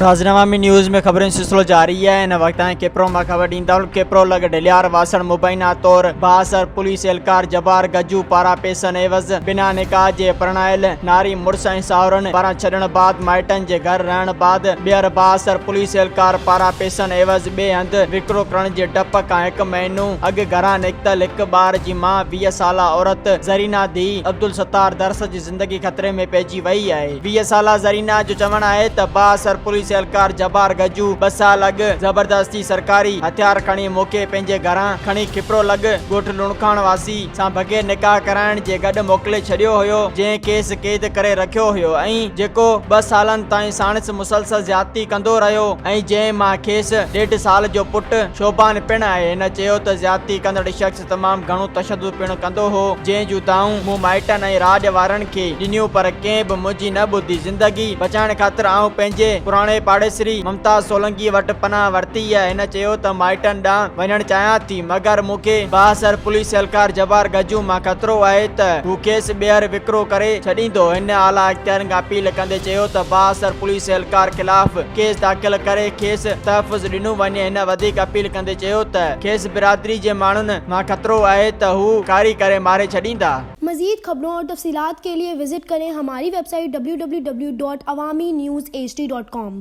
ناظرين عوامي نيوز ۾ خبرن جو سلسلو جاري آهي هن وقت تائين ڪيپرو مان خبر ڏيندا آهيون ڪيپرو لڳ ڍليار واسڻ مبينا طور بااثر پوليس اهلڪار جبار گجو پاران پيسن عيوض بنا نڪاح جي پرڻايل ناري مڙس ۽ ساهرن پاران ڇڏڻ بعد مائٽن جي گهر رهڻ بعد ٻيهر بااثر پوليس اهلڪار پاران پيسن عيوض ٻئي هنڌ وڪرو ڪرڻ جي ڊپ کان هڪ مهينو اڳ گهران نڪتل هڪ ٻار جي ماء ويهه سالا عورت زرينا ڌيء عبدالستار درس جي زندگي خطري ۾ پئجي وئي آهي. ويهه سالا زرينا جو چوڻ آهي ته بااثر پوليس اهلڪار جبار گجو ٻه سال اڳ زبردستي سرڪاري هٿيار کڻي موکي پنهنجي گهران کڻي کپرو لڳ ڳوٺ لوڻکاڻ واسي سان بغير نڪاح ڪرائڻ جي گڏ موڪلي ڇڏيو هيو جنهن کيس قيد ڪري رکيو هيو ۽ جيڪو ٻه سالن تائين ساڻس مسلسل زيادتي ڪندو رهيو ۽ جنهن مان کيس ڏيڍ سال جو پٽ شعبان پڻ آهي هن چيو ته زيادتي ڪندڙ شخص تمام گهڻو تشدد پڻ ڪندو هو جنهن جون دانهون مون مائٽن ۽ راڄ وارن کي ڏنيون پر ڪنهن به منهنجي نه ٻڌي زندگي بچائڻ خاطر آئون پنهنجي پراڻي پاڙيسري ممتاز سولنگي وٽ پناهه ورتي هن چيو ته مائٽن ڏانهن وڃڻ چاهيان ٿي مگر مون کي بااثر پوليس اهلڪار جبار گجو مان خطرو آهي ته هو کيس ٻيهر وڪرو ڪري ڇڏيندو، هن اعليٰ اختيارين کان اپيل ڪندي چيو ته بااثر پوليس اهلڪار خلاف ڪيس داخل ڪري کيس تحفظ ڏنو وڃي، هن وڌيڪ اپيل ڪندي چيو ته کيس برادري جي ماڻهن مان خطرو آهي ته هو ڪاري ڪري ماري ڇڏيندا. مزيد خبرون اور تفصيلات کے لئے وزٽ کریں ہماری ویب سائٹ www.awaminews hd.com.